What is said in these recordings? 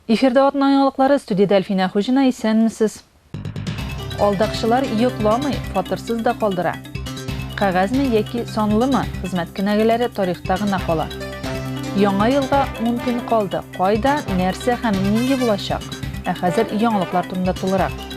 Эфирда атна яңалыклары студиядә Әлфинә Хуҗина исәнмесез. Алдакчылар йокламый, фатырсыз да калдыра. Кәгазьме яки санлымы, хезмәт кенәгәләре тарихта гына кала. Яңа елга мөмкин калды. Кайда, нәрсә һәм нинди булачак? Ә хәзер яңалыклар турында тулырак.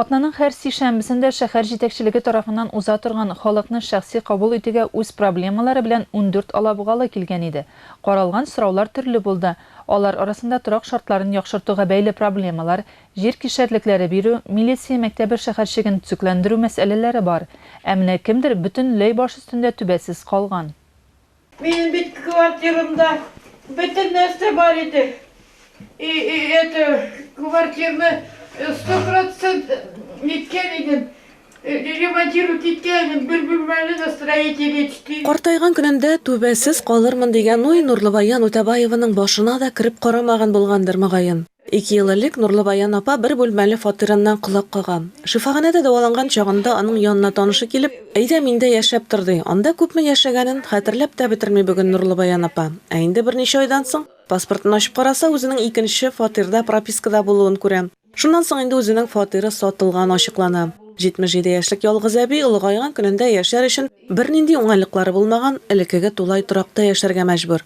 Атнаның һәр сишәмбесендә шәһәр җитәкчелеге тарафыннан уза торган Халыкны шәхси кабул итүгә үз проблемалары белән ундүрт алабугалы килгән иде. Каралган сораулар төрле булды. Алар арасында торак шартларын яхшыртуга бәйле проблемалар, җир кишәрлекләре бирү, милиция мәктәбе шәһәрчеген төзекләндерү мәсьәләләре бар. Ә менә кемдер бөтенләй баш өстендә түбәсез калган. Минем бит квартирамда бөтен нәрсә бар иде. И, и это квартирны э, сто процент ниткән идем. Э, Ремонтировать иткән идем. Бер бүлмәле на строителе ичти. Картайган көнендә түбәсез калырмын дигән уй Нурлыбаян Үтәбаеваның башына да кереп карамаган булгандыр, мөгаен. Ике ел элек Нурлыбаян апа бер бүлмәле фатирыннан колак кага. Шифаханәдә дәваланган чагында аның янына танышы килеп, Әйдә, миндә яшәп тор, ди. Анда күпме яшәгәнен хәтерләп тә бетерми бүген Нурлыбаян апа. Ә инде берничә айдан соң, паспортын ачып караса, үзенең икенче фатирда пропискада булуын күрә. Шуннан соң инде үзенең фатиры сатылган ачыклана. 77 яшьлек ялгыз әби олыгайган көнендә яшәр өчен бернинди уңайлыклары булмаган элеккеге тулай торакта яшәргә мәҗбүр.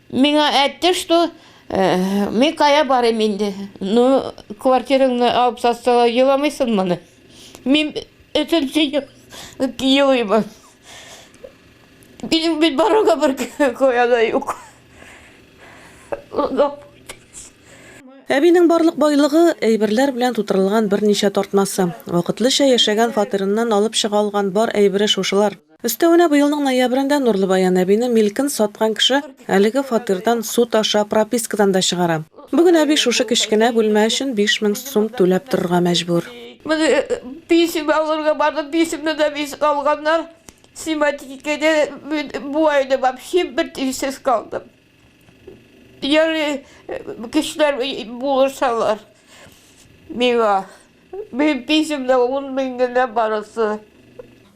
Миңа әйтте, что мин кая барыйм инде, ну, квартираңны алып сатсалар, еламыйсыңмыни? Мин өченче ел елыйм. Минем бит барырга бер кая да юк. Әбинең барлык байлыгы, әйберләр белән тутырылган берничә тартмасы. Вакытлыча яшәгән фатирыннан алып чыга алган бар әйбере шушылар. Өстәвенә, быелның ноябрендә Нурлыбаян әбине милкен саткан кеше әлеге фатирдан суд аша пропискадан да чыгара. Бүген әби шушы кечкенә бүлмә өчен биш мең сум түләп торырга мәҗбүр. Менә писем алырга бардым, писемне дә бизеп алганнар. Снимать иткәндә мин бу айны вообще бер тиенсез калдым. Ярый, кешеләр булышалар миңа. Минем писем дә ун мең генә барысы.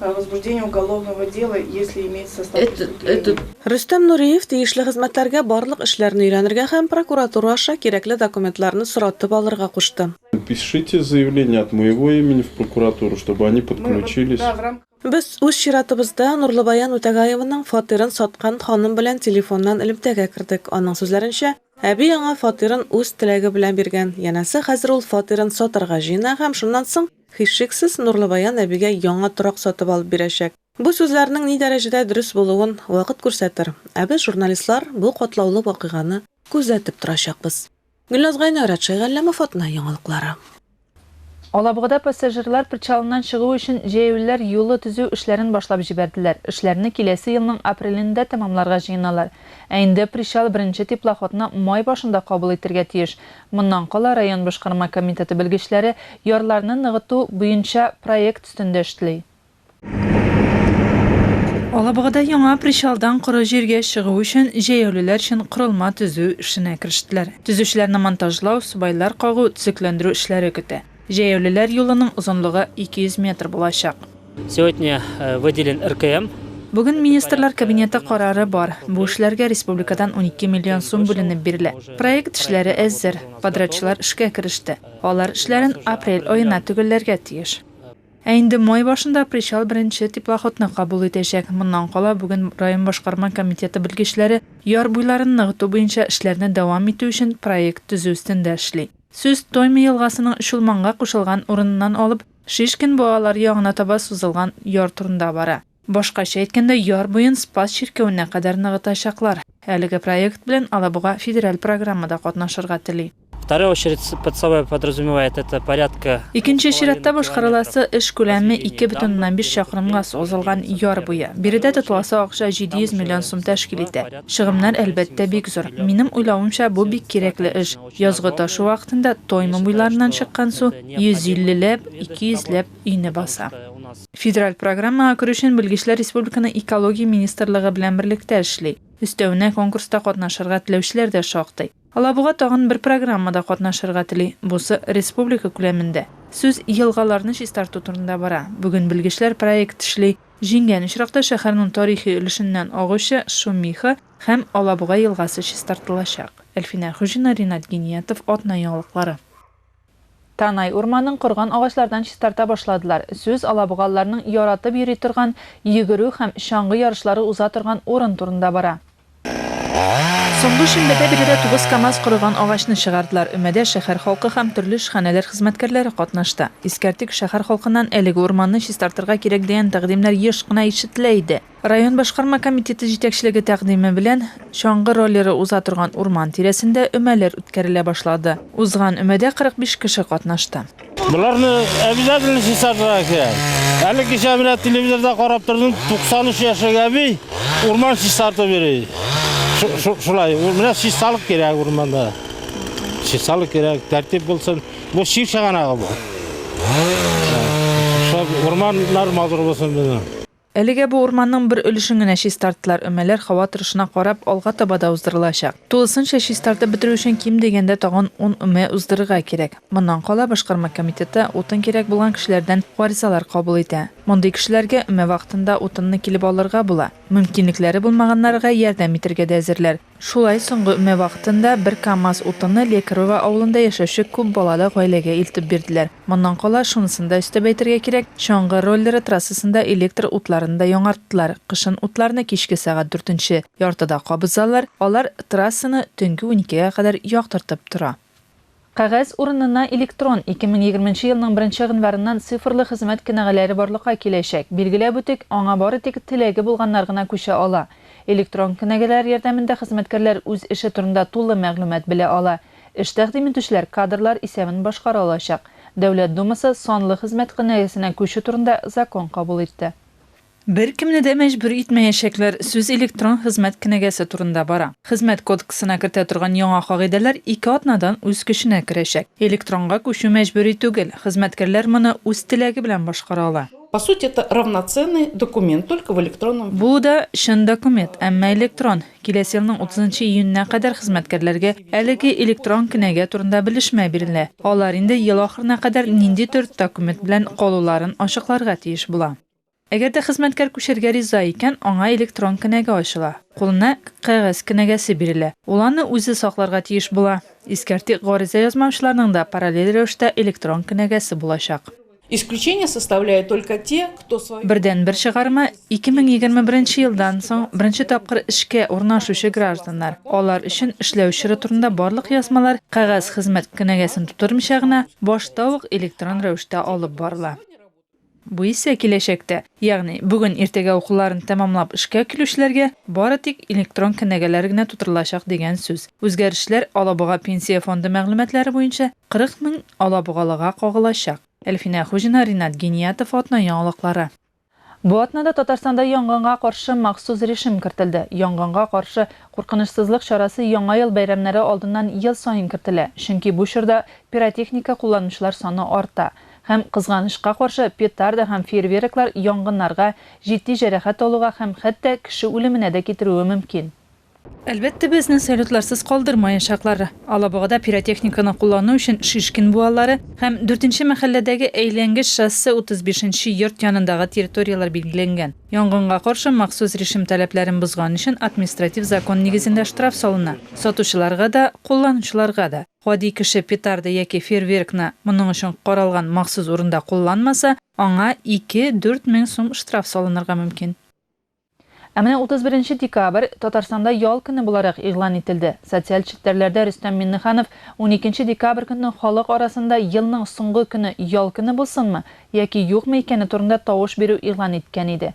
о возбуждении уголовного дела, если имеется состав преступления. Рөстәм Нуриев тиешле хезмәтләргә барлык эшләрне өйрәнергә һәм прокуратура аша кирәкле документларны соратып алырга кушты. Напишите заявление от моего имени в прокуратуру, чтобы они подключились. Без, үз чиратыбызда, Нурлыбаян Үтәгаеваның фатирын саткан ханым белән телефоннан элемтәгә кердек. Аның сүзләренчә, әби аңа фатирын үз теләге белән биргән, янәсе, хәзер ул фатирын сатарга җыена һәм шуннан соң, Һичшиксез, Нурлыбаян әбигә яңа торак сатып алып бирәчәк. Бу сүзләрнең ни дәрәҗәдә дөрес булуын вакыт күрсәтер, ә без, журналистлар, бу катлаулы вакыйганы күзәтеп торачакбыз. Гөлназ Гайнай, Радшай Галләмов, Атна яңалыклары. Алабугада пассажирлар причалыннан чыгу өчен җәяүлеләр юлы төзү эшләрен башлап җибәрделәр. Эшләрне киләсе елның апрелендә тәмамларга җыеналар. Ә инде причал беренче теплоходны май башында кабул итәргә тиеш. Моннан кала район башкарма комитеты белгечләре ярларны ныгыту буенча проект өстендә эшли. Алабугада яңа причалдан коры җиргә чыгу өчен җәяүлеләр өчен корылма төзү эшенә керештеләр. Төзүчеләрне монтажлау, субайлар кагу, төзекләндерү эшләре көтә. Җәяүлеләр юлының озынлыгы 200 метр булачак. Сегодня выделен РКМ. Бүген Министрлар Кабинеты карары бар. Бу эшләргә республикадан унике миллион сум бүленеп бирелә. Проект эшләре әзер. Подрядчылар эшкә кереште. Алар эшләрен апрель аена төгәлләргә тиеш. Ә инде май башында причал беренче теплоходны кабул итәчәк. Моннан кала бүген район башкарма комитеты белгечләре яр буйларын ныгыту буенча эшләрне дәвам итү өчен проект төзү өстендә эшли. Сүз Тоймы елгасының Чулманга кушылган урыныннан алып, Шишкин буалар ягына таба сузылган яр турында бара. Башкача әйткәндә, яр буен Спас чиркәвенә кадәр ныгытачаклар. Әлеге проект белән Алабуга федераль программада катнашырга тели. Вторая очередь под собой подразумевает это порядка. Икенче чиратта башкарыласы эш күләме ике бөтен уннан биш чакрымга сузылган яр буе. Биредә тотыласы акча 700 миллион сум тәшкил итә. Чыгымнар, әлбәттә, бик зур. Минем уйлавымча, бу бик кирәкле эш. Язгы ташу вакытында Тойма буйларыннан чыккан су 150 ләп, 200 ләп өйне баса. Федераль программага керү өчен белгечләр республиканың Экология министрлыгы белән берлектә эшли. Өстәвенә, конкурста катнашырга теләүчеләр дә шактый. Алабуга тагын бер программада катнашырга тели, бусы республика күләмендә. Сүз елгаларны чистарту турында бара. Бүген белгечләр проект эшли. Җиңгән очракта шәһәрнең тарихи өлешеннән агучы Шумиха, Һәм Алабуга елгасы чистартылачак. Әлфинә Хуҗина, Ринат Гиниятов, Атна яңалыклары. Танай урманын корган агачлардан чистарта башладылар. Сүз алабугалыларның яратып йөри торган, йөгерү һәм чаңгы ярышлары уза торган урын турында бара. Соңгы шимбәдә биредә тугыз КАМАЗ корыган агачны чыгардылар. Өмәдә шәһәр халкы һәм төрле эшханәләр хезмәткәрләре катнашты. Искәртик, шәһәр халкыннан әлеге урманны чистартырга кирәк дигән тәкъдимнәр еш кына ишетелә иде. Район башкарма комитеты җитәкчелеге тәкъдиме белән чаңгы роллеры уза торган урман тирәсендә өмәләр үткәрелә башлады. Узган өмәдә 45 кеше катнашты. Боларны обязательно чистартырга кирәк. Әле кичә менә телевизорда карап тордым, 93 яшьлек әби урман чистартып йөри. Шулай, менә чисталык кирәк урманда. Чисталык кирәк, тәртип булсын. Бу чир чыганагы бу. Урманнар матур булсын безнең. Әлегә бу урманның бер өлешен генә чистарттылар, өмәләр һава торышына карап, алга таба да уздырылачак. Тулысынча чистартып бетерү өчен ким дигәндә тагын ун өмә уздырырга кирәк. Моннан кала Башкарма комитеты утын кирәк булган кешеләрдән гаризалар кабул итә. Мондый кешеләргә өмә вакытында утынны килеп алырга була. Мөмкинлекләре булмаганнар га ярдәм итәргә дә әзерләр. Шулай соңгы өмә вакытында бер камаз утынны Лекарово авылында яшәүче күп балалы гаиләгә илтеп бирделәр. Моннан кала, шунысын да өстәп әйтергә кирәк, чаңгы роллеры трассасында электр утларын да яңарттылар, кышын утларны кичке сәгать дүртенче яртыда кабызалар, алар трассаны төнге уникегә кадәр яктыртып тора. Кәгазь урынына электрон, 2020 нче елның беренче гыйнварыннан цифрлы хезмәт кенәгәләре барлыкка киләчәк. Билгеләп үтик, аңа бары тик теләге булганнар гына күчә ала. Электрон кенәгәләр ярдәмендә хезмәткәрләр үз эше турында тулы мәгълүмат белә ала. Эш тәкъдим итүчеләр кадрлар исәбен башкара алачак. Дәүләт Думасы санлы хезмәт кенәгәсенә күчү турында закон кабул итте. Беркемне дә мәҗбүр итмәячәкләр, сүз электрон хезмәт кенәгәсе турында бара. Хезмәт кодексына кертә торган яңа кагыйдәләр ике атнадан үз көченә керәчәк. Электронга күчү мәҗбүри түгел, хезмәткәрләр моны үз теләге белән башкара ала. По сути, это равноценный документ, только в электронном виде. Бу да чын документ, әмма электрон. Киләсе елның утызынчы июненә кадәр хезмәткәрләргә әлеге электрон кенәгә турында белешмә бирелә. Алар инде ел ахырына кадәр нинди төр документ белән калуларын ачыкларга тиеш була. Әгәр дә хезмәткәр күчәргә риза икән, аңа электрон кенәгә ачыла. Кулына кәгазь кенәгәсе бирелә. Ул аны үзе сакларга тиеш була. Искәртик, гариза язмаучыларның да параллель рәвештә электрон кенәгәсе булачак. Исключение составляют только те, кто свою. Бердәнбер чыгарма, 2021 елдан соң беренче тапкыр эшкә урнашучы гражданнар. Алар өчен эшләү чоры турында барлык язмалар кәгазь хезмәт кенәгәсен тутырмыйча гына, башта ук электрон рәвештә алып барыла. Бу исә киләчәктә, ягъни бүген иртәгә укуларын тәмамлап эшкә килүчеләргә бары тик электрон кенәгәләр генә тутырылачак дигән сүз. Үзгәрешләр Алабуга Пенсия фонды мәгълүматлары буенча 40 мең алабугалыга кагылачак. Әлфинә Хуҗина, Ринат Гениятов, Атна яңалыклары. Бу атнада Татарстанда янгынга каршы махсус режим кертелде. Янгынга каршы куркынычсызлык чарасы Яңа ел бәйрәмнәре алдыннан ел саен кертелә, чөнки бу чорда пиротехника кулланучылар саны арта. Һәм, кызганычка каршы, петарда һәм фейерверклар янгыннарга, җитди җәрәхәт алуга һәм хәтта кеше үлеменә дә китерүе мөмкин. Әлбәттә, безне салютларсыз калдырмаячаклар. Алабугада пиротехниканы куллану өчен Шишкин буалары һәм дүртенче мәхәлләдәге әйләнгеч шоссе 35 нче йорт янындагы территорияләр билгеләнгән. Янгынга каршы махсус режим таләпләрен бозган өчен административ закон нигезендә штраф салына, сатучыларга да, кулланучыларга да. Гади кеше петарда яки фейерверкны моның өчен каралган махсус урында кулланмаса, аңа ике, дүрт мең сум штраф салынырга мөмкин. Ә менә 31 декабрь Татарстанда ял көне буларак игълан ителде. Социаль челтәрләрдә Рөстәм Миңнеханов уникенче декабрь көнне халык арасында елның соңгы көне ял көне булсынмы яки юкмы икәне турында тавыш бирү игълан иткән иде.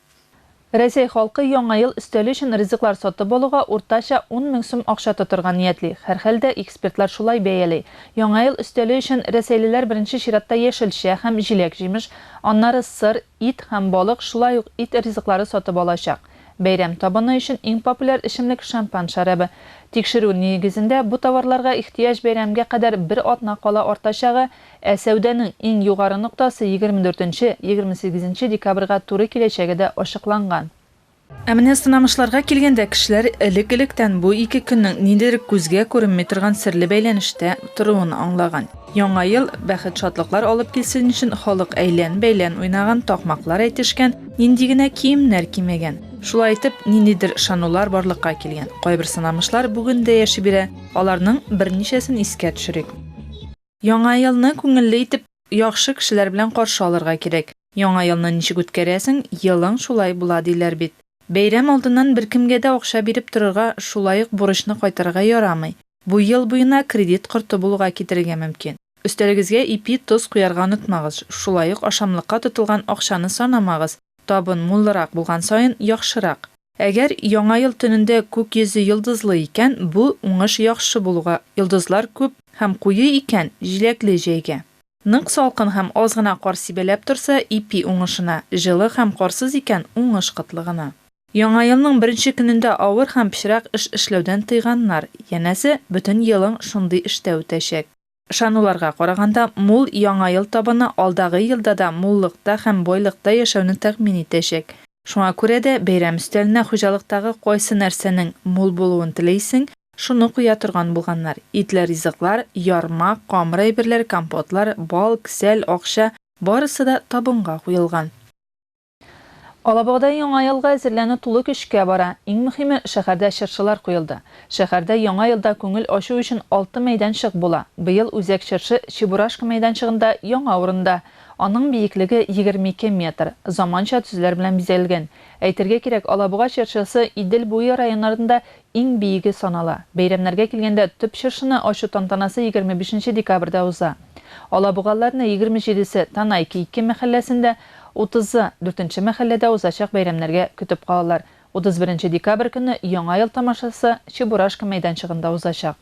Рәсәй халкы Яңа ел өстәле өчен ризыклар сатып алуга уртача ун мең сум акча тотырга ниятли. Һәрхәлдә, экспертлар шулай бәяли. Яңа ел өстәле өчен рәсәйлеләр беренче чиратта яшелчә һәм җиләк-җимеш, аннары сыр, ит һәм балык, шулай ук ит ризыклары сатып алачак. Бәйрәм табыны өчен иң популяр эчемлек шампан шәрабы. Тикшерү нигезендә, бу товарларга ихтыяҗ бәйрәмгә кадәр бер атна кала артачагы, Ә сәүдәнең иң югары ноктасы егерме дүртенче, егерме сигезенче декабрьгә туры киләчәге дә ачыкланган. Ә менә сынамышларга килгәндә кешеләр элек-электән бу ике көннең ниндидер күзгә күренми торган серле бәйләнештә торуын аңлаган. Яңа ел бәхет-шатлыклар алып килсен өчен халык әйлән-бәйлән уйнаган, такмаклар әйтешкән, нинди генә киемнәр кимәгән. Шулай итеп, ниндидер ышанулар барлыкка килгән. Кайбер сынамышлар бүген дә яши бирә. Аларның берничәсен искә төшерик. Яңа елны күңелле итеп, яхшы кешеләр белән каршы алырга кирәк. Яңа елны ничек үткәрәсең, елың шулай була, диләр бит. Бәйрәм алдыннан беркемгә дә акча биреп торырга, шулай ук бурычны кайтарырга ярамый. Бу ел буена кредит корты булуга китерергә мөмкин. Өстәлегезгә ипи, тоз куярга онытмагыз, шулай ук ашамлыкка тотылган акчаны санамагыз, табын муллырак булган саен, яхшырак. Әгәр Яңа ел төнендә күк йөзе йолдызлы икән, бу, уңыш яхшы булуга, йолдызлар күп һәм куе икән, җиләкле җәйгә. Нык салкын һәм аз гына кар сибәләп торса, ипи уңышына, җылы һәм карсыз икән, уңыш кытлыгына. Яңа елның беренче көнендә авыр һәм пычрак эш эшләүдән тыйганнар, янәсе, бөтен елың шундый эштә үтәчәк. Ышануларга караганда, мул Яңа ел табыны алдагы елда да муллыкта һәм байлыкта яшәүне тәэмин итәчәк. Шуңа күрә дә, бәйрәм өстәленә хуҗалыктагы кайсы нәрсәнең мул булуын телисең, шуны куя торган булганнар, итле ризыклар, ярма, камыр әйберләр, компотлар, бал, кесәл, акча, барысы да табынга куелган. Алабугада Яңа елга әзерләнү тулы көчкә бара. Иң мөхиме, шәһәрдә чыршылар куелды. Шәһәрдә Яңа елда күңел ачу өчен алты мәйданчык була. Быел Үзәк чыршы Чебурашка мәйданчыгында яңа урында. Аның биеклеге 22 метр. Заманча төзеләр белән бизәлгән. Әйтергә кирәк, Алабуга чыршысы Идел буе районнарында иң биеге санала. Бәйрәмнәргә килгәндә, төп чыршыны ачу тантанасы 25 нче декабрьдә уза. Алабугалыларны егерме җидесе Танай Кейки мәхәлләсендә, Утызы, дүртенче мәхәлләдә узачак бәйрәмнәргә көтеп калалар. Утыз беренче декабрь көнне Яңа ел тамашасы Чебурашка мәйданчыгында узачак.